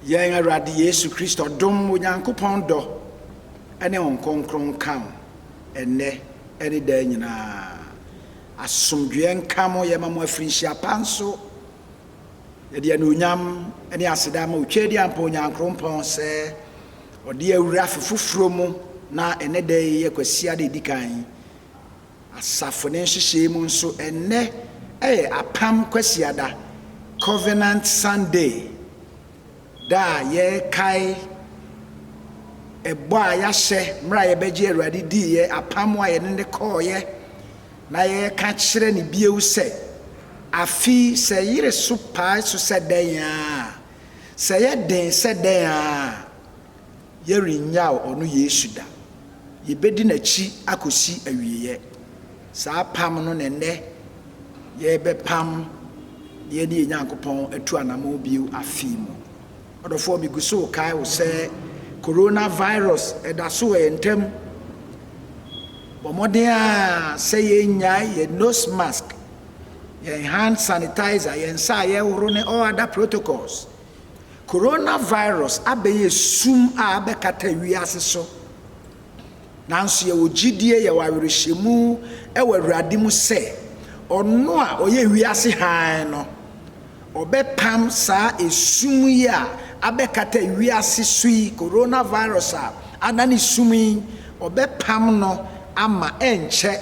Yɛn Awurade Yesu Kristo dom, Onyankopɔn dɔ, ne Honhom Kronkron nka wo ɛnnɛ ne daa nyinaa. Asomdwoeɛ nka mo. Yɛma mo afirinhyia pa nso. Yɛde anuonyam ne aseda ma Otwedeampa Onyankrompɔn sɛ Ɔde awura afe foforɔ mu na ɛnnɛ da yi yɛ Kwasiada ɛdikan Asafo no nhyehyɛe mu nso, ɛnnɛ yɛ Apam Kwasiada, Covenant Sunday, da a yɛkae ɛbɔ a yɛahyɛ mmerɛ a yɛbɛgye Awurade diiɛ, apam a yɛne no kɔeɛ, na yɛka kyerɛ no bio sɛ, Afe yi, sɛ ɛyere so pae so sɛ dɛn ara, sɛ ɛyɛ den sɛ dɛn ara, Yɛrennyaw ɔno Yesu da. Yebedi n'akyi akosi awieeɛ. Saa apam no na ɛnnɛ yɛrebɛpam na yɛne yɛn Nyankopɔn atu anammɔn bio afe yi mu. Ɔdɔfoɔ, megu so rekae wo sɛ coronavirus da so wɔ yɛn ntam. Bɔ mmɔden ara sɛ yɛnnyae yɛn nose mask, yɛn hand sanitizer, yɛn nsa a yɛhoro ne all other protocols. Coronavirus abɛyɛ sum a abɛkata wiase so, nanso yɛwɔ gyidie, yɛwɔ awerɛhyɛmu wɔ Awurade mu sɛ, Ɔno a ɔyɛ wiase hann no, Ɔbɛpam saa esum yi a abɛkata wiase so yi, Coronavirus a adane sum yi, Ɔbɛpam no ama ɛnkyɛ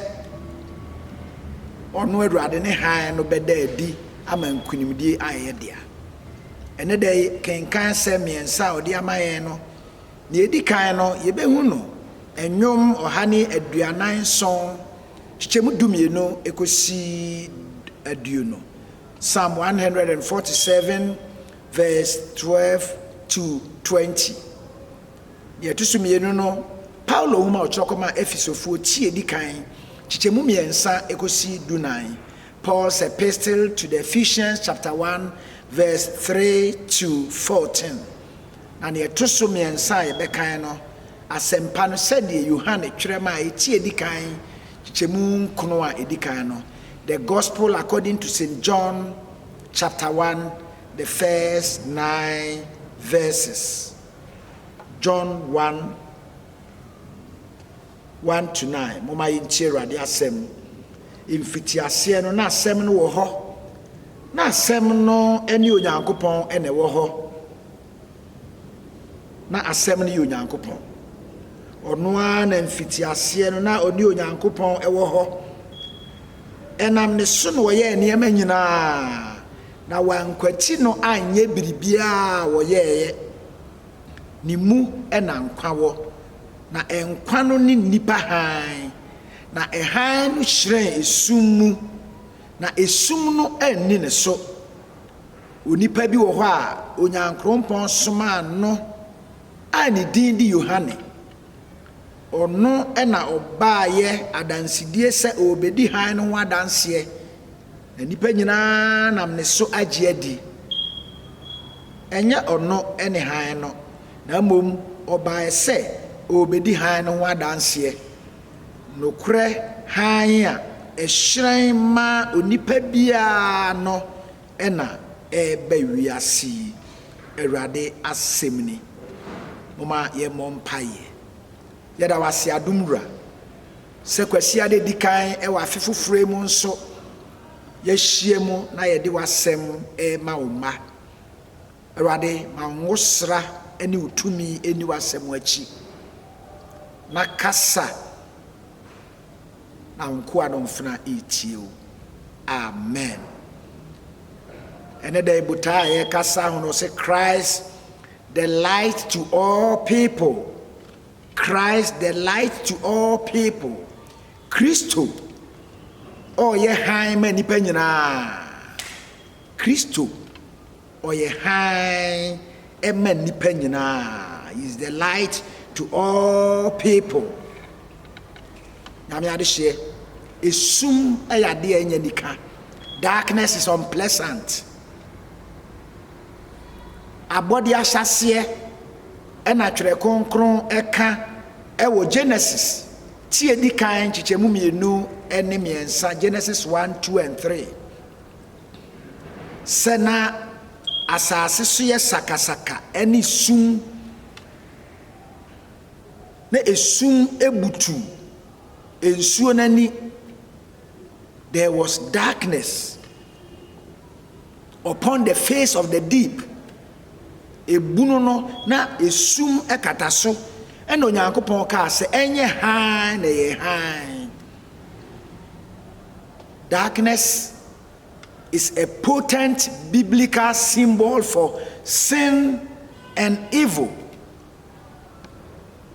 Ɔno Awurade ne hann no bɛda adi. ama nkonimdie ayɛ yɛ dea. Ɛnnɛ da yi, kenkan asɛm mmiɛnsa a ɔde ama yɛn no. Nea ɛdi kan no, yɛbɛhu no nnwom ɔha ne aduanan nson, kyekyɛmu dumienu kɔsi aduonu, Psalm one hundred and forty seven verse twelve to twenty. Deɛ ɛto so mmienu no, Paulo nwoma a ɔtwerɛ kɔmaa Efesofoɔ ti a ɛdi kan, kyekyɛmu mmiɛnsa kɔsi dunan, Paul's Epistle to the Ephesians chapter one verse three to fourteen, na nea ɛto so mmiɛnsa a yɛbɛkan no, Asɛmpa no sɛdeɛ Yohane twerɛ maa eti edi kan, kyekyɛmu nkono a edi kan no, The Gospel according to Saint John chapter one the first nine verses, John one. one to nine, Momma yɛntie Awurade asɛm. Mfitiaseɛ no, na asɛm no wɔ hɔ. Na asɛm no ne Onyankopɔn na ɛwɔ hɔ. Na asɛm no yɛ Onyankopɔn. Ɔno ara na mfitiaseɛ no, na ɔne Onyankopɔn wɔ hɔ. Ɛnam ne so na ɔyɛɛ nneɛma nyinaa, na wankwati no anyɛ biribiara a ɔyɛeɛ. Ne mu na nkwa wɔ, na nkwa no ne nnipa hann. Na hann no hyerɛn esum mu, na esum no anni ne so. Onipa bi wɔ hɔ a Onyankrompɔn somaa no a ne din de Yohane. Ɔno na ɔbaeɛ adansedie sɛ ɔrebɛdi hann no ho adanseɛ, na nnipa nyina ara nam ne so agye adi. Ɛnyɛ ɔno ne hann no, na mmom ɔbaeɛ sɛ ɔrebɛdi hann no ho adanseɛ, nokorɛ hann a ɛhyerɛn ma onipa biara no na ɛreba wiase yi, Awurade asɛm ni. Momma yɛmmɔ mpaeɛ. Yɛda wo ase adom wura sɛ Kwasiada edi kan wɔ afe foforo yi mu nso yɛahyia mu na yɛde w'asɛm rema wo mma. Awurade ma nwosra ne wo tumi nni w'asɛm akyi na kasa na wo nkoa no mfena retie wo. Amen. Ɛnɛ da yi botaa a yɛrekasa ho no sɛ Christ The light to all people, Christ the light to all people, Kristo ɔyɛ hann ma nnipa nyinaa, Kristo ɔyɛ hann ma nnipa nyinaa, he is the light to all people. Nyame adehyeɛ, esum yɛ adeɛ a ɛnyɛ nika, darkness is unpleasant. abɔde ahyɛaseɛ na Twerɛ Kronkron ka wɔ Genesis ti a ɛdi kan nkyekyɛmu mmienu ne mmiɛnsa, Genesis one, two and three, sɛ na asase so yɛ sakasaka ne sum, na esum butu nsuo no ani. There was darkness upon the face of the deep. Ebunu no na esum kata so. Ɛna Onyankopɔn kaa sɛ ɛnyɛ hann na ɛyɛ hann. Darkness is a potent biblical symbol for sin and evil.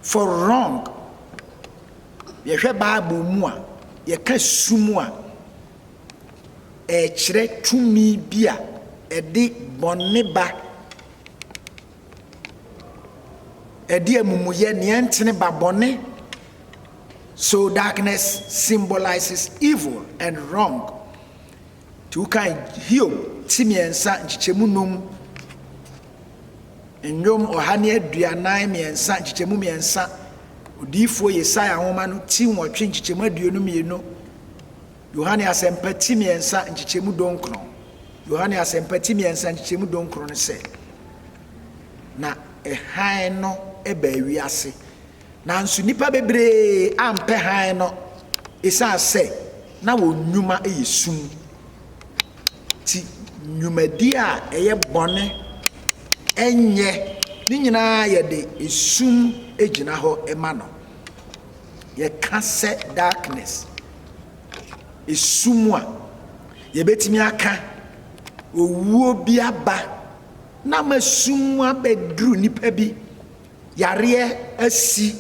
For wrong, yɛhwɛ Bible mu a, yɛka sum a, ɛrekyerɛ tumi bi a ɛde bɔne ba, ɛde amumuyɛ, nea ɛntene ba bɔne. So darkness symbolises evil and wrong. Nti wokan Hiob ti mmiɛnsa nkyekyɛmu nnum, Nnwom ɔha ne aduanan mmiɛnsa nkyekyɛmu mmiɛnsa, Odiyifoɔ Yesaia nwoma no ti nwɔtwe nkyekyɛmu aduonu mmienu, Yohane Asɛmpa ti mmiɛnsa nkyekyɛmu donkron. Yohane Asɛmpa ti mmiɛnsa nkyekyɛmu donkron no sɛ, Na hann no baa wiase, Nanso nnipa bebree ampɛ hann no esiane sɛ na wɔn nnwuma yɛ sum nti. Nnwumadi a ɛyɛ bɔne nyɛ ne nyinaa yɛde esum gyina hɔ ma no. Yɛka sɛ darkness, esum a, yɛbɛtumi aka owuo bi aba na ama sum abɛduru nnipa bi. Yareɛ asi,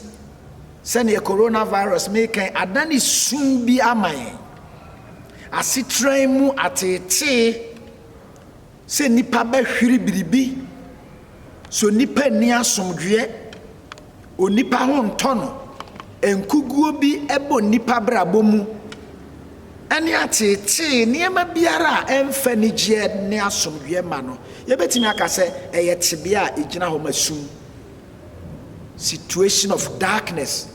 sɛdeɛ coronavirus meka yi, adane su bi ama yɛn. Asetra yi mu ateetee sɛ nnipa bɛhwere biribi. So nnipa nni asomdwoeɛ? Onipa ho ntɔ no? Nkuguo bi bɔ nnipa abrabɔ mu? ne ateetee nneɛma biara a ɛmfa anigyeɛ ne asomdwoeɛ mma no, yɛbɛtumi aka sɛ ɛyɛ tebea a ɛgyina hɔ ma sum, situation of darkness.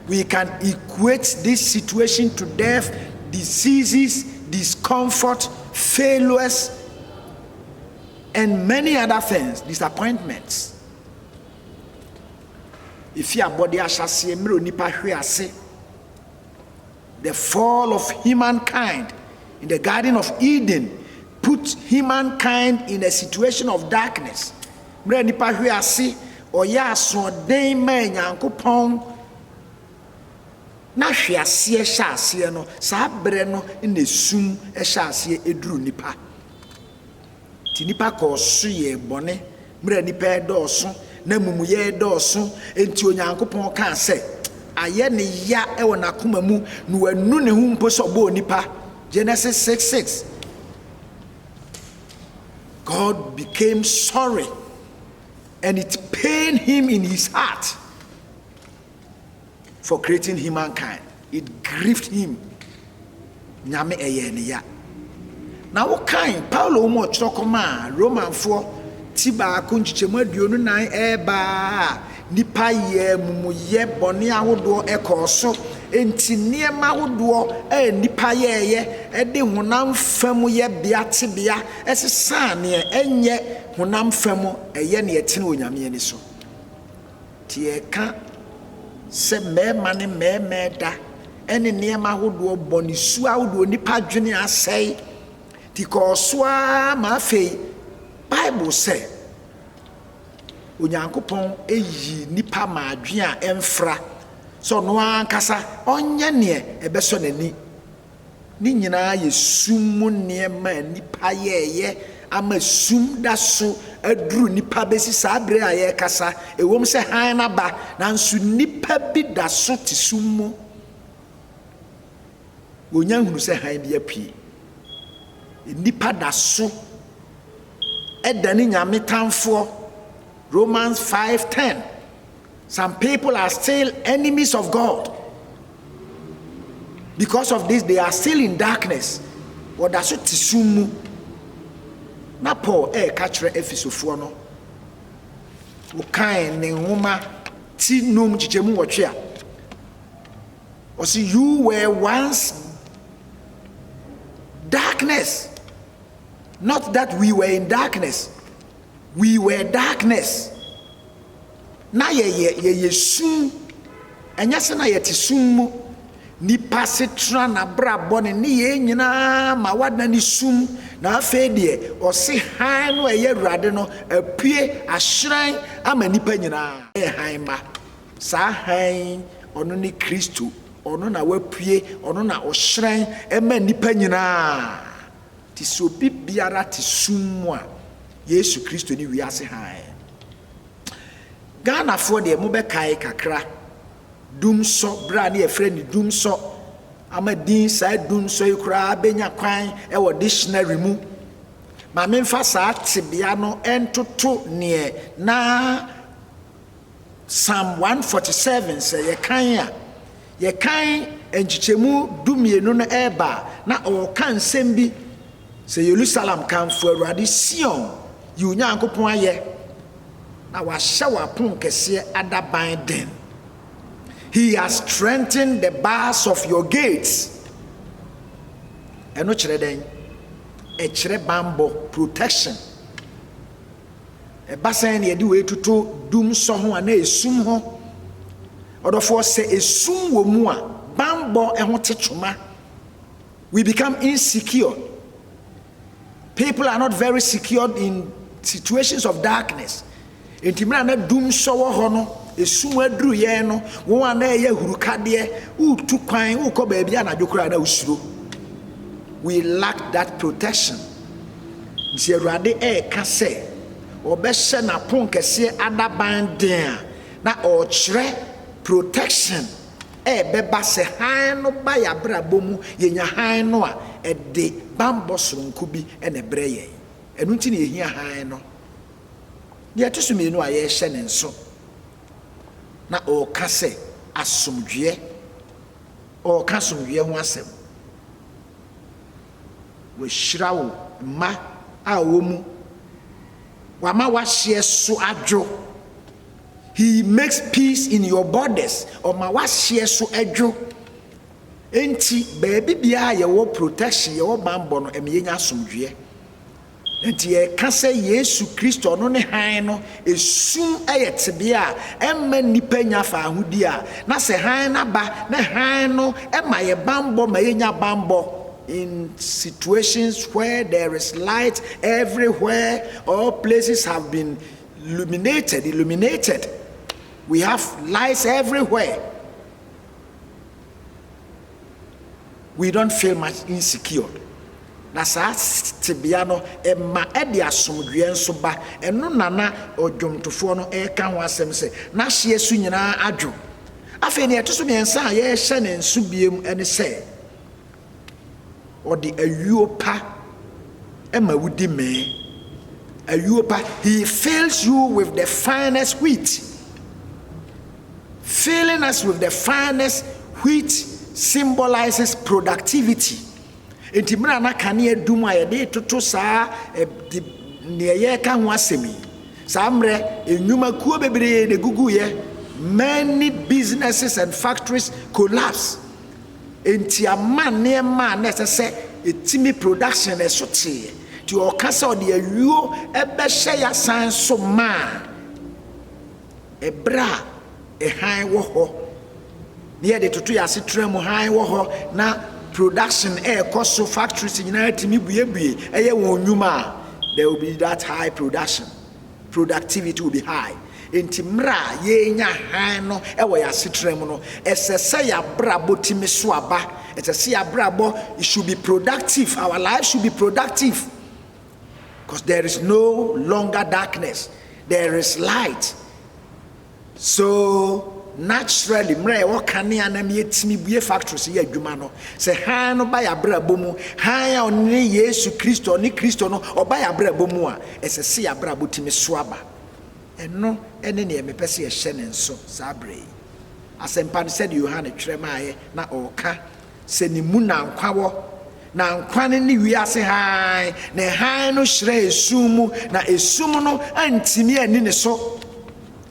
We can equate this situation to death, diseases, discomfort, failures, and many other things, disappointments. Ɛfi abɔde ahyɛaseɛ mmerɛ onipa hwe ase. The fall of humankind in the Garden of Eden put humankind in a situation of darkness, Mmerɛ a nnipa hwee ase, ɔyɛɛ asoɔden maa Nyankopɔn, na hwe aseɛ hyɛ aseɛ no, saa berɛ no na esum hyɛ aseɛ duru nnipa. Enti nnipa kɔɔ so yɛɛ bɔne mmerɛ a nnipa redɔɔso na amumuyɛ redɔɔso. Enti Onyankopɔn kaa sɛ, Ayɛ no ya wɔ n'akoma mu, na wannu ne ho mpo sɛ ɔbɔɔ nnipa. Genesis six six. God became sorry and it pained him in his heart. for creating humankind, it grieved him, Nyame ɛyɛɛ ne ya. Na wokan Paulo nwoma ɔtwerɛ kɔmaa Romanfoɔ ti baako nkyekyɛmu aduonu nan ɛreba a nipa yɛ mumuyɛ bɔne ahodoɔ ɛkɔɔ so, enti nneɛma ahodoɔ a nipa yɛɛyɛ ɛde honam fam yɛbea tebea ɛsesaa neɛ ɛnyɛ honam fam ɛyɛ neɛ ɛtene wɔ Nyame ani so. Te ɛka sɛ mmarima ne mmarima ɛda ɛne nneɛma ahodoɔ bɔ ne su ahodoɔ nipa adwene asɛe ti kɔɔ so ara ma afei bible sɛ onyankopɔn eyi nipa ma adwene a ɛmfra sɛ ɔno ankasa ɔnyɛ neɛ ɛbɛsɔ n'ani Ne nyinaa yɛ sum mu nneɛma a nnipa yɛeɛ ama sum da so aduru nnipa bɛsi saa berɛ a yɛrekasa. Ɛwom sɛ hann no aba, nanso nnipa bi da so te sum mu. Wɔnnya nhunu sɛ hann bi apue. Nnipa da so ɛdane Nyame tamfoɔ. Romans 5:10 Some people are still enemies of God because of this they are still in darkness wɔda so te sum mu na Paul ɛreka kyerɛ Efisofoɔ no wɔkan ne nwoma ti num kyekyɛmu wɔtwe a wɔsi you were once darkness not that we were in darkness. We were darkness, na yɛyɛ, yɛyɛ sum, ɛnyɛ sɛ na yɛte sum mu. Nipa setena n'abrabɔ ne nneyɛɛ nyinaa ma wada ne sum, na afei deɛ ɔse hann no ɛyɛ Awurade no apue ahyerɛn ama nipa nyinaa. Ɛyɛ hann mma. Saa hann yi, ɔno ne Kristo, ɔno na wapue, ɔno na ɔhyerɛn ɛma nipa nyinaa. Te sɛ obi biara te sum mu a Yesu Kristo ne wiase hann. Ghanafoɔ deɛ mobɛkae kakra Dumsɔ berɛ a ne yɛfrɛ no Dumsɔ ama din saa Dumsɔ yi koraa bɛnya kwan wɔ dictionary mu. Ma memfa saa tebea no ntoto neɛ na Psalm 147 sɛ yɛkan a, Yɛkan nkyekyɛmu dumienu no reba a, na ɔreka nsɛm bi sɛ, Yerusalem, kamfo Awurade, Sion, yi wo Nyankopɔn ayɛ, na wahyɛ w'aponkɛseɛ adaban den. He has strengthened the bars of your gates. Ɛno kyerɛ dɛn? Ɛkyerɛ banbɔ, protection. Ɛba sɛn na yɛde wei toto dum sɔ ho anaa esum ho? Ɔdɔfoɔ, sɛ esum wɔ mu a, banbɔ ho te twoma. We become insecure. People are not very secured in situations of darkness. Nti mmerɛ a na dum sɔ wɔ hɔ no, esum aduru yɛn no, wɔn a na ɛyɛ hurukadeɛ, wotu kwan, wokɔ baabi anadwo koraa na wosuro. We lack that protection. Enti Awurade reka sɛ ɔbɛhyɛ n'aponkɛseɛ adaban den a, na ɔrekyerɛ protection a ɛbɛba sɛ hann no ba yɛn abrabɔ mu, yɛnya hann no a, ɛde bammɔ sononko bi na ɛbrɛ yɛn. Ɛno nti na yɛhia hann no. Deɛ ɛto so mmienu a yɛrehyɛ ne nso, na ɔreka sɛ asomdwoeɛ, ɔreka asomdwoeɛ ho asɛm. Wahyira wo mma a ɔwɔ mu. Wama w'ahyeɛ so adwo. He makes peace in your borders. Ɔma w'ahyeɛ so dwo. Enti baabi biara a yɛwɔ protection, yɛwɔ banbɔ no, ɛma yɛnya asomdwoeɛ. Enti yɛka sɛ Yesu Kristo, ɔno ne hann no, esum yɛ tebea a ɛmma nnipa nnya faahodi a, na sɛ hann no aba na hann no ma yɛn bammɔ ma yenya bammɔ, in situations where there is light everywhere, all places have been luminated, illuminated, we have lights everywhere. We don't feel much insecured. Na saa tebea no ma ɛde asomdwoeɛ nso ba. Ɛno na na ɔdwomtofoɔ no reka ho asɛm sɛ, N'ahyeɛ so nyinaa adwo. Afei deɛ ɛto so mmiɛnsa a yɛrehyɛ no nso biom ne sɛ, Ɔde ayuo pa ma wodi mee. Ayuo pa, He fills you with the finest wheat. Filling us with the finest wheat symbolises productivity. Enti mmerɛ a na kanea dum a yɛde retoto saa de deɛ yɛreka ho asɛm yi, saa mmerɛ nnwumakuo bebree na ɛguguiɛ. Many businesses and factories collapse. Enti ama nneɛma a na ɛsɛ sɛ ɛtumi production na ɛso teeɛ. Nti ɔka sɛ ɔde ayuo ɛbɛhyɛ yɛ asan so maa. Ɛberɛ a ɛhan wɔ hɔ na yɛde toto yɛn asetra mu hann wɔ hɔ na production ɛrekɔ so factories nyinaa tumi buebue ɛyɛ wɔn nnwuma a there will be that high production productivity will be high nti mmerɛ a yɛrenya hann no ɛwɔ yɛn asetra mu no ɛsɛ sɛ yɛabrabɔ tumi so aba ɛsɛ sɛ yɛabrabɔ should be productive our life should be productive Cause there is no longer darkness there is light so naturally mmerɛ a yɛwɔ kanea na yɛtumi bue factory so yɛ adwuma no sɛ hann no ba yɛ abrabɔ mu hann a ɔno ne yesu kristo ɔne kristo no ɔba yɛ abrabɔ mu a ɛsɛ sɛ yɛ abrabɔ tumi so aba ɛno ne neɛ mepɛ sɛ yɛhyɛ ne nso saa berɛ yi asɛmpa no sɛdeɛ yohane twerɛ maaeɛ na ɔreka Sɛ ne mu na nkwa wɔ, na nkwa no ne wiase hann, ne hann no hyerɛn esum mu, na esum no antumi anni ne so.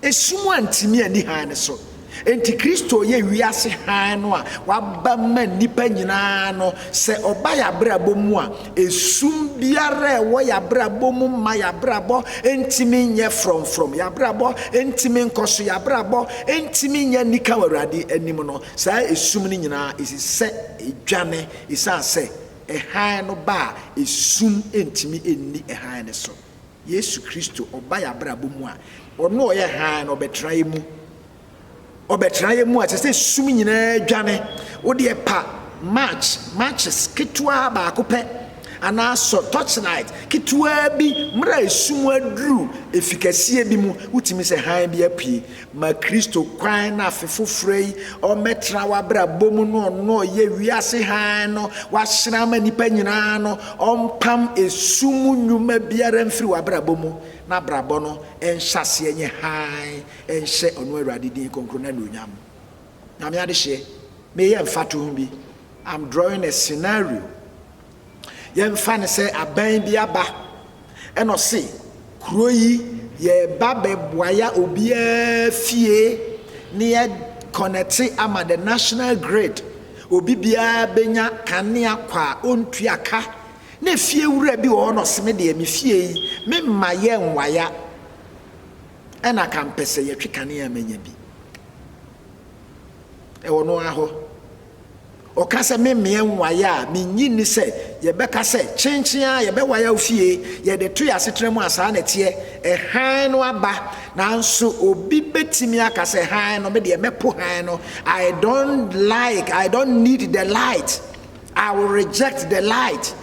Esum antumi anni hann no so. Enti Kristo yɛ wiase hann no a waba ma nnipa nyinaa no. Sɛ ɔba yɛn abrabɔ mu a, esum biara a ɛwɔ yɛn abrabɔ mu mma yɛn abrabɔ ntumi nyɛ frɔmfrɔm, yɛn abrabɔ ntumi nkɔ so, yɛn abrabɔ ntumi nyɛ anika wɔ Awurade anim no, Saa esum no nyinaa esi sɛ edwane esiane sɛ hann no ba a esum ntumi nni hann no so. Yesu Kristo, ɔba yɛn abrabɔ mu a, ɔno a ɔyɛ hann no, ɔbɛtra yɛn mu. Ɔbɛtra yɛn mu a, ɛsɛ sɛ esum nyinaa dwane. Wo deɛ pa match, matches ketewa baako pɛ, anaa sɔ torchlight ketewa bi mmerɛ a esum aduru efi kɛseɛ bi mu, wotumi sɛ hann bi apue. Ma Kristo kwan na afe foforɔ yi ɔmmɛtena w'abrabɔ mu no ɔno ɔyɛ wiase hann no wahyerɛn ama nnipa nyinaa no ɔmpam esu mu nnwuma biara mfiri w'abrabɔ mu na abrabɔ no nhyɛ aseɛ nye hann nhyɛ ɔno Awurade din kronkron na anuonyam mu. Nyame adehyeɛ, meyɛ mfatoho bi. I'm drawing a scenario. Yɛmfa no sɛ aban bi aba na ɔse kuro yi yɛreba bɛboaya obiara fie na yɛ kɔnɛte ama the national grid, obi biara bɛnya kanea kwa a ɔntua ka, na efie wura bi wɔ hɔ na ɔse me deɛ me fie yi me mma yɛ nwaya ɛna ka mpɛ sɛ yɛtwe kanea a manya bi ɛwɔ no ara hɔ. Ɔka sɛ, Me mmea nwae a, minnye nni sɛ yɛbɛka sɛ, 'Kyenkyen ara, yɛbɛwae awo fie! Yɛde to yɛn asetena mu a, saa na ɛteɛ. Hann no aba. Nanso obi betumi aka sɛ, 'Hann no, me deɛ, mɛpo hann no. I don't like, I don't need the light. I will reject the light.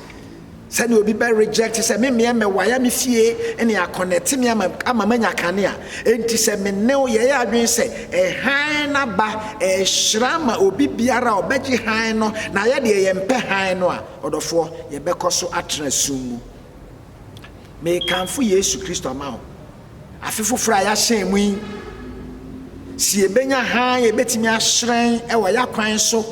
Sɛdeɛ obi bɛ reject sɛ me mmea mmɛwae a me fie ne akɔnɛte me ama ama manya kane a enti sɛ me ne wo yɛyɛ adwene sɛ ɛhan no aba ɛrehyira ma obi biara a ɔbɛgye hann no na yɛ deɛ yɛmpɛ hann no a ɔdɔfoɔ yɛbɛkɔ so atena sum mu. Mekamfo Yesu Kristo ama wo afe foforɔ a yɛahyɛn mu yi sɛ yɛbɛnya hann a ɛbɛtumi ahyerɛn wɔ yɛakwan so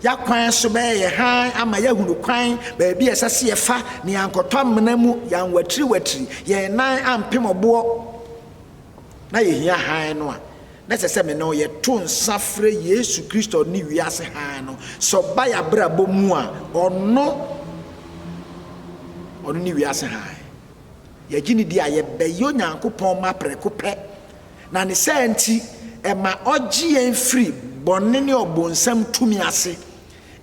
Y'akwan so bɛyɛ yɛ hann ama yɛahunu kwan, baabi a ɛsɛ sɛ yɛfa, ne yɛankɔtɔ amena mu, yɛanwatiriwatiri, yɛn nan ampem ɔboɔ. Na yɛhia hann no a, na ɛsɛ sɛ me ne wo yɛto nsa frɛ Yesu Kristo ne wiase hann no, sɛ ɔba y'abrabɔ mu a, ɔno, ɔno ne wiase hann. Yɛgye no di a, yɛbɛyɛ Onyankopɔn mma prɛko pɛ, Na ne saa nti, ɛma ɔgye yɛn firi bɔne ne ɔbonsam tumi ase.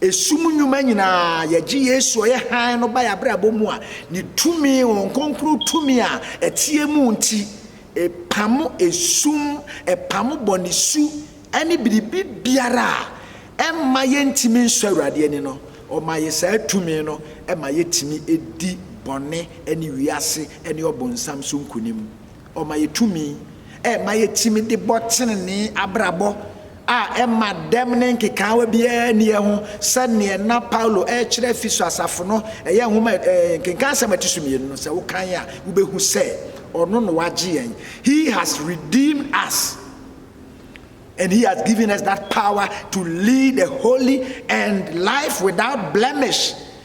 Esum nnwuma nyinaa, yɛgye Yesu a ɔyɛ hann no ba yɛn abrabɔ mu a, ne tumi, Honhom Kronkron tumi a ɛteɛ mu nti, ɛpamo esum, ɛpamo bɔne su ne biribi biara a ɛmma yɛntumi nsɔ Awurade ani no. Ɔma yɛn saa tumi no ma yɛtumi di bɔne ne wiase ne ɔbonsam so nkonim. Ɔma yɛ tumi ma yɛtumi de bɔ tenenee abrabɔ a ɛma dɛm ne nkekaawa biara nni ho sɛdeɛ na Paulo rekyerɛ Efeso asafo no, ɛyɛ nwoma nkenkan asɛm a ɛte so mmienu no, sɛ wokan a wobɛhu sɛ ɔno na wagye yɛn. He has redeemed us and he has given us that power to lead a holy and life without blemish.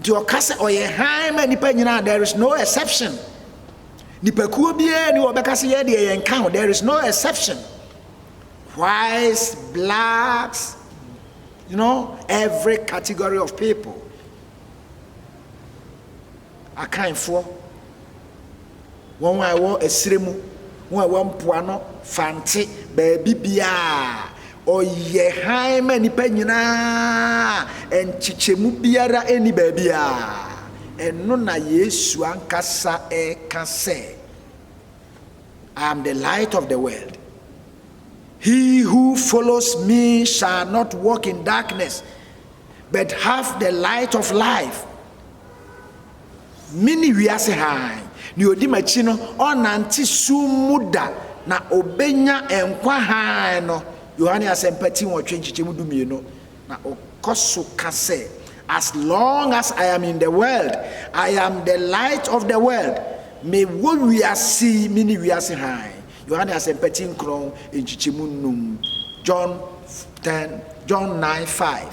Deɛ ɔka sɛ ɔyɛ hann ma nnipa nyinaa, there is no exception. Nipakuo biara nni hɔ a ɔbɛka sɛ yɛn deɛ yɛnka ho, there is no exception. Whites, blacks, you know, every category of people. Akanfoɔ, Wɔn a ɛwɔ ɛserɛ mu, wɔn a ɛwɔ mpoano, Fante, baabi biara. Ɔyɛ hann ma nnipa nyina ara, nkyekyɛmu biara nni baabi a. Ɛno na Yesu ankasa reka sɛ, I am the light of the world. He who follows me shall not walk in darkness, but have the light of life. Mene wiase hann. Nea odi m'akyi no, ɔrennante sum mu da, na obenya nkwa hann no. Yohane Asɛmpa ti nwɔtwe nkyekyɛmu du mmienu. Na ɔkɔ so ka sɛ, As long as I am in the world, I am the light of the world. Mewɔ wiase yi, mene wiase hann. Yohane Asɛmpa ti nkron nkyekyɛmu nnum, John ten, John nine five.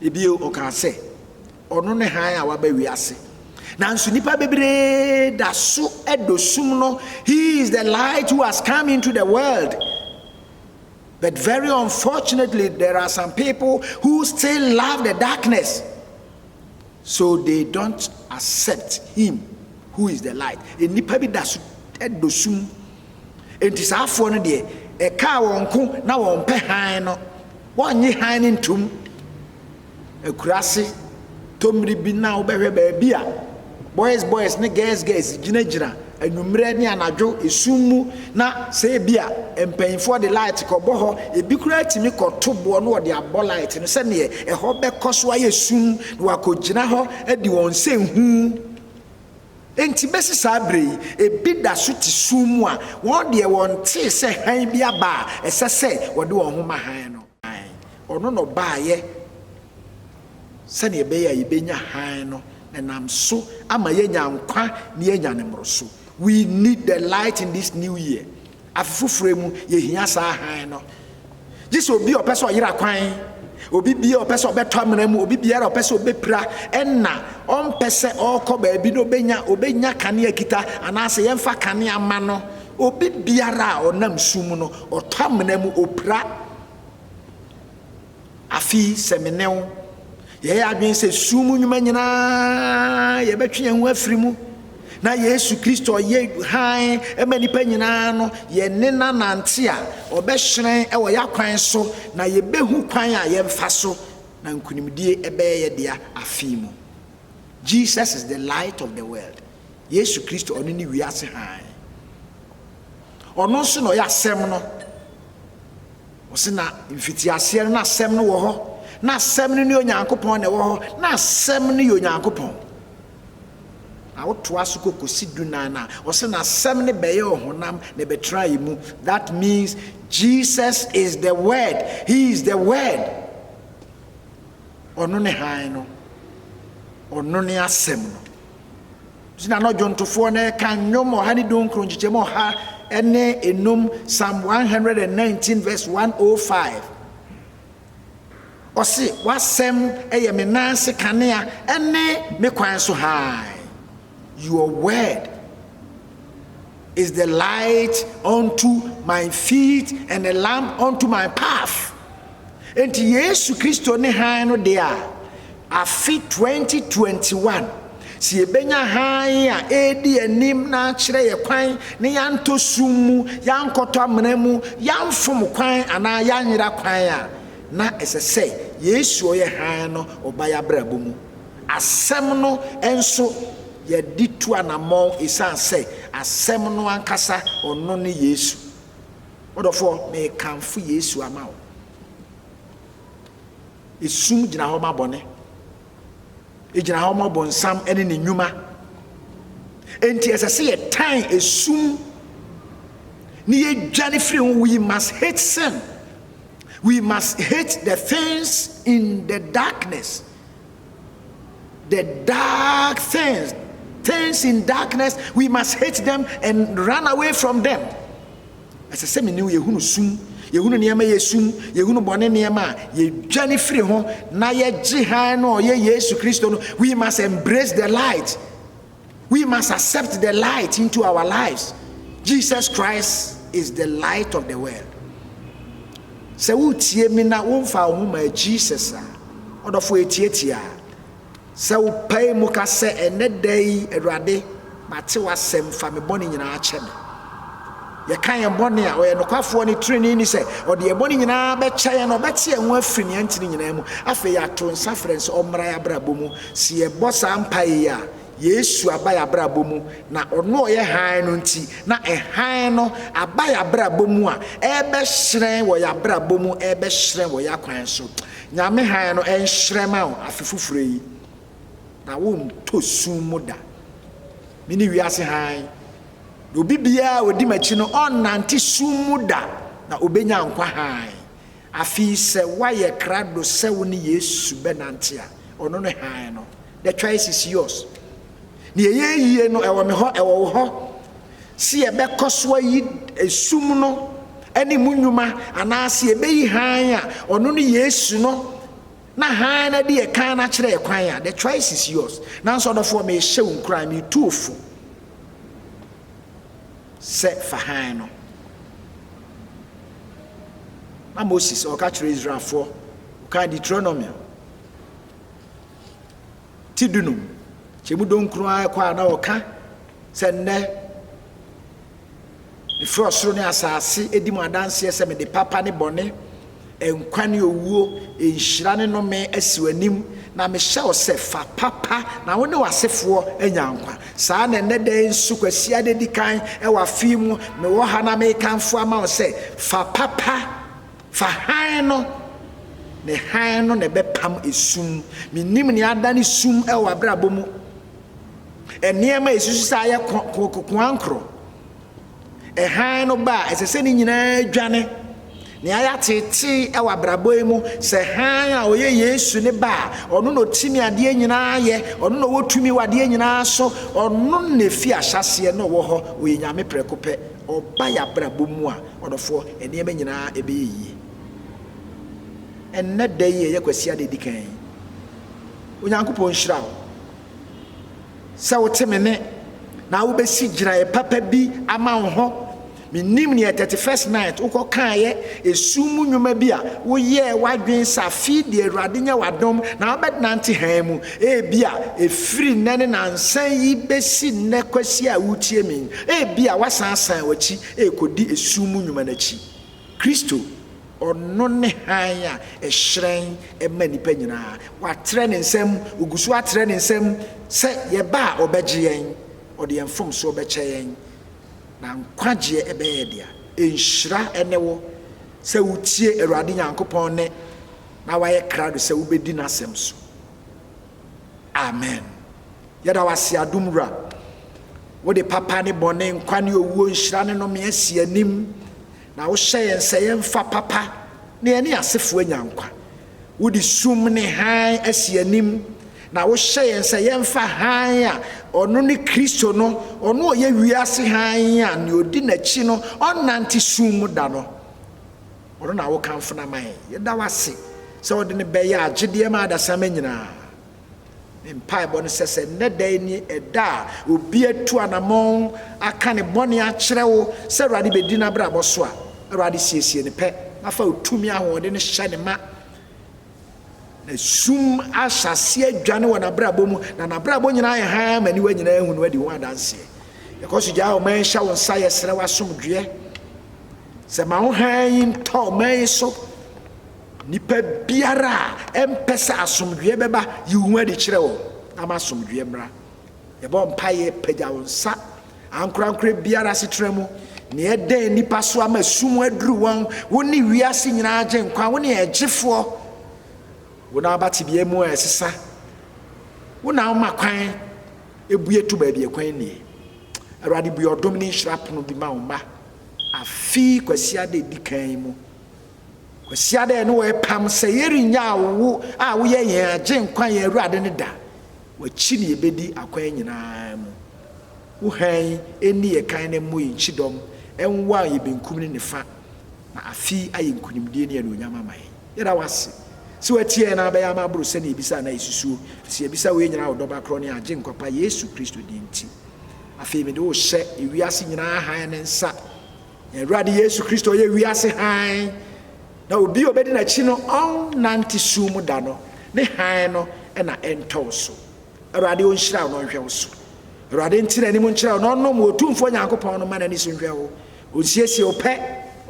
Bio, ɔkaa sɛ, Ɔno ne hann a waba wiase. Nanso nnipa bebree da so dɔ sum no. He is the light who has come into the world. But very unfortunately, there are some people who still love the darkness. So they don't accept him who is the light nnipa bi da so dɔ sum enti saa afoɔ no deɛ ɛkaa wɔn ko na wɔn pɛ hann no wɔnnye hann no ntom akurase tɔmmiri bi na wobɛhwɛ baabi a boys boys ne girls girls gyinagyina anwummerɛ ne anadwo esum mu na sɛ ebia mpaninfoɔ de light kɔbɔ hɔ ebi koraa tumi kɔto boɔ na wɔde abɔ light no sɛdeɛ ɛhɔ bɛkɔ so ayɛ sum na wɔakɔgyina hɔ adi wɔn sɛ nhu enti bɛsi saa berɛ yi ebi da so te sum mu a wɔn deɛ wɔntee sɛ hann bi aba a ɛsɛ sɛ wɔde wɔn ho ma hann no. Hann. Ɔno na ɔbaeɛ sɛdeɛ ɛbɛyɛ a yɛbɛnya hann no na ɛnam so ama yɛanya nkwa na yɛanya ne mmoroso. We need the light in this new year. Afe foforɔ yi mu, yɛhia saa hann no. Gye sɛ obi a ɔpɛ sɛ ɔyera kwan, obi bia ɔpɛ sɛ ɔbɛtɔ amena mu, obi biara ɔpɛ sɛ ɔbɛpira, ɛna ɔmpɛ sɛ ɔrekɔ baabi na ɔbɛnya ɔbɛnya kanea kita anaasɛ yɛmfa kanea ma no. Obi biara a ɔnam su mu no, ɔtɔ amena mu, opira. Afei sɛ me ne wo yɛyɛ adwene sɛ su mu nnwuma nyinaa yɛbɛtwe yɛn ho afiri mu, na Yesu Kristo ɔyɛ hann ma nnipa nyinaa no, yɛne no anante a, ɔbɛhyerɛn wɔ yɛakwan so, na yɛbɛhu kwan a yɛmfa so na nkonimdie bɛyɛ yɛ dea afe mu. Jesus is the light of the world. Yesu Kristo, ɔno ne wiase hann. Ɔno nso na ɔyɛ Asɛm no. Ɔse na mfitiaseɛ no na Asɛm no wɔ hɔ, na Asɛm no ne Onyankopɔn na ɛwɔ hɔ, na Asɛm no yɛ Onyankopɔn. Na wotoa so kɔ kɔsi du nan a, ɔse na Asɛm no bɛyɛ ɔhonam na ɛbɛtena yɛ mu. That means Jesus is the word. He is the word. Ɔno ne hann no. Ɔno ne Asɛm no. Gyina no dwontofoɔ no ɛka nnwom ɔha ne dunkron nkyekyɛmu ɔha ne enum psalm one hundred and nineteen verse one oh five ɔse w'asɛm ɛyɛ me nan ase kanea ɛne me kwan so hann your word is the light unto my feet and a lamp unto my path enti yesu kristo ne hann no deɛ a afe 2021 sɛ yɛbɛnya hann a ɛredi anim na akyerɛ yɛ kwan ne yɛantɔ sum mu yɛankɔtɔ amena mu yɛamfom kwan anaa yɛanyera kwan a na ɛsɛ sɛ yesu ɔyɛ hann no ɔba yɛ abrabɔ mu Asɛm no nso, yɛde tu anammɔn esiane sɛ Asɛm no ankasa, ɔno ne Yesu. M'ɔdɔfoɔ, merekamfo Yesu ama wo. Esum gyina hɔ ma bɔne. Egyina hɔ ma ɔbonsam ne ne nnwuma. Enti ɛsɛ sɛ yɛtan esum na yɛdwane firi ho. We must hate sin. We must hate the things in the darkness. The dark things, things in darkness, we must hate them and run away from them. Ɛsɛ sɛ mene yɛhunu sum, yɛhunu nneɛma yɛ sum, yɛhunu bɔne nneɛma a yɛdwane firi ho na yɛgye hann no a ɔyɛ Yesu Kristo no. We must embrace the light. We must accept the light into our lives, Jesus Christ is the light of the world. Sɛ wotie me na womfa wo ho ma Jesus a, ɔdɔfo etiatia. Sɛ wopae mu ka sɛ, ɛnɛ da yi, Awurade, mate w'asɛm, fa me bɔne nyinaa kyɛ me. Yɛka yɛn bɔne a, ɔyɛ nokwafoɔ ne treneeni sɛ ɔde yɛn bɔne nyinaa bɛkyɛ yɛn na ɔbɛte yɛn ho afiri nea ɛnte no nyinaa mu. Afei yɛato nsa frɛ no sɛ ɔmmra yɛn abrabɔ mu. Sɛ yɛbɔ saa mpaeɛ yi a, Yesu aba yɛn abrabɔ mu, na ɔno a ɔyɛ hann no nti, na hann no aba yɛn abrabɔ mu a ɛrebɛhyerɛn wɔ yɛn abrabɔ mu, ɛrebɛhyerɛn wɔ yɛn akwan so. Nyame hann no nhyerɛn ma wo afe foforɔ yi, na wontɔ sum mu da. Mene wiase hann. Na obi biara a ɔdi m'akyi no, ɔrennante sum mu da, na ɔbɛnya nkwa hann. Afei sɛ woayɛ krado sɛ wo ne Yesu bɛnante a, ɔno ne hann no. The choice is yours. Nea ɛyɛ yie no, ɛwɔ me hɔ, ɛwɔ wo hɔ. Se yɛbɛkɔ so ayi sum no ne mu nnwuma anaase yɛbɛyi hann a ɔno ne Yesu no Na hann no de ɛkan no akyerɛ yɛ kwan a, the choice is yours. Nanso ɔdɔfoɔ, merehyɛ wo nkuran, meretu wo fo sɛ fa hann no. Na Moses ɔka kyerɛ Israelfoɔ, ɔkaa Deuteronomy ti dunum kyɛ mu donkron ara kɔ a na ɔka sɛ nnɛ Mefrɛ ɔsoro ne asase di mo adanseɛ sɛ mede papa ne bɔne, nkwa ne owuo, nhyira ne nnome asi w'anim, na mehyɛ wo sɛ, fa papa na wo ne w'asefoɔ anya nkwa. Saa na ɛnnɛ da yi nso, Kwasiada di kan wɔ afe yi mu, mewɔ ha na merekamfo ama wo sɛ, fa papa, fa hann no, ne hann no na ɛbɛpam esum. Menim nea adane sum wɔ w'abrabɔ mu. Nneɛma a ɛsusu saa yɛ koankorɔ. Hann no ba a, ɛsɛ sɛ ne nyinaa dwane. Nea yɛateetee wɔ abrabɔ yi mu sɛ hann a ɔyɛ Yesu ne ba a ɔno na ɔtumi adeɛ nyinaa yɛ, ɔno na ɔwɔ tumi wɔ adeɛ nyinaa so, ɔno na ɛfiri ahyɛaseɛ na ɔwɔ hɔ, ɔyɛ Nyame prɛko pɛ. Ɔba yɛ abrabɔ mu a, ɔdɔfoɔ, nneɛma nyinaa ɛbɛyɛ yie. Ɛnnɛ da yi a ɛyɛ Kwasiada ɛdi kan yi, Onyankopɔn nhyira wo sɛ wote me nne na wobɛsi gyinaeɛ papa bi ama wo ho. Menim neɛ 31st night wokɔ kaeɛ ɛsum mu nnwuma bi a woyɛɛ w'adwene sɛ afei deɛ Awurade nyɛ w'adom na wobɛnante hann mu. Ebia ɛfiri nnɛ ne nansa yi bɛsi nnɛ Kwasi a woretie me yi, ebia woasan asan w'akyi rekɔdi ɛsum mu nnwuma no akyi. Kristo Ɔno ne hann a ɛhyerɛn ma nnipa nyinaa. Watrɛ ne nsam, ɔgu so atrɛ ne nsam sɛ yɛba a ɔbɛgye yɛn, ɔde yɛn mfomsoɔ bɛkyɛ yɛn, na nkwagyeɛ bɛyɛ yɛn dea. Nhyira ne wo sɛ wotie Awurade Nyankopɔn nne na woayɛ krado sɛ wobɛdi n'asɛm so. Amen. Yɛda wo ase Adom Wura. Wode papa ne bɔne, nkwa ne owuo, nhyira ne nnome asi anim, Na wohyɛ yɛn sɛ yɛmfa papa na yɛne yɛn asefoɔ anya nkwa. Wode sum ne hann asi yɛn anim, na wohyɛ yɛn sɛ yɛmfa hann a ɔno ne Kristo no, ɔno a ɔyɛ wiase hann a nea ɔdi n'akyi no ɔnnante sum mu da no. Ɔno na wokamfo no ama yɛn. Yɛda wo ase sɛ wode no bɛyɛ agyedeɛ ma adasamma nyinaa. Me mpaebɔ ne sɛ, sɛ nnɛ da yi ne ɛda a obi atu anamɔn aka ne bɔne akyerɛ wo sɛ Awurade bɛdi n'abrabɔ so a, Awurade siesie no pɛ na fa wo tumi ahoɔden no hyɛ ne ma na sum ahyɛ aseɛ adwane wɔ n'abrabɔ mu na n'abrabɔ nyinaa yɛ hann ma niwa nyinaa hu no adi ho adanseɛ yɛkɔ so gyaa ɔman hyɛ wo nsa yɛsrɛ w'asomdwoeɛ sɛ ma wo hann yi ntɔ ɔman yi so Nnipa biara a ɛmpɛ sɛ asomdwoeɛ bɛba, yi wo ho adi kyerɛ wɔn, na ma asomdwoeɛ mmra. Yɛbɔ mpaeɛ, pagya wo nsa. Ankorankorɛ biara asetena mu, nea ɛdɛn nnipa so ama sum aduru wɔn, wone wiase nyinaa Agyenkwa, wone yɛn Gyefoɔ. Wo na woba tebea mu a ɛsesa, wo na woma kwan, ebue to baabi a kwan nnie. Awurade, bue ɔdom ne nhyira pono bi ma wo mma, afe yi Kwasiada a ɛdi kan yi mu. Kwasiada a ɛne wo repam sɛ yɛrennyaa wo a woyɛ yɛn Agyenkwa, yɛn Awurade no da. W'akyi na yɛbɛdi akwan nyinaa mu. Wo hann nni yɛn kan na ɛmmɔ yɛn kyidɔm nwaw yɛn benkum ne nifa, na afe yi ayɛ nkonimdie ne anuonyam ama yɛn. Yɛda wo ase sɛ woatie yɛn na abɛyɛ ama aboro sɛdeɛ yɛbisa anaa yɛsusuo, ɛfiri sɛ yɛbisa wei nyinaa wɔ Ɔdɔ Ba Korɔ ne yɛn Agyenkwa Pa Yesu Kristo din nti. Afei mede wo rehyɛ ewiase nyinaa hann no nsa. Yɛn Awurade Yesu Kristo, ɔyɛ wiase hann, na obi a ɔbɛdi n'akyi no, ɔrennante sum mu da no, ne hann no na ɛntɔ wo so. Awurade ɔnhyira wo na ɔnhwɛ wo so. Awurade nte n'anim nkyerɛ wo na ɔnom wo, Otumfoɔ Nyankopɔn no mma n'ani so nhwɛ wo, ɔnsiesie wo pɛ,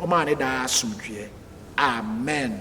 ɔmma wo ne daa asomdwoeɛ. Amen.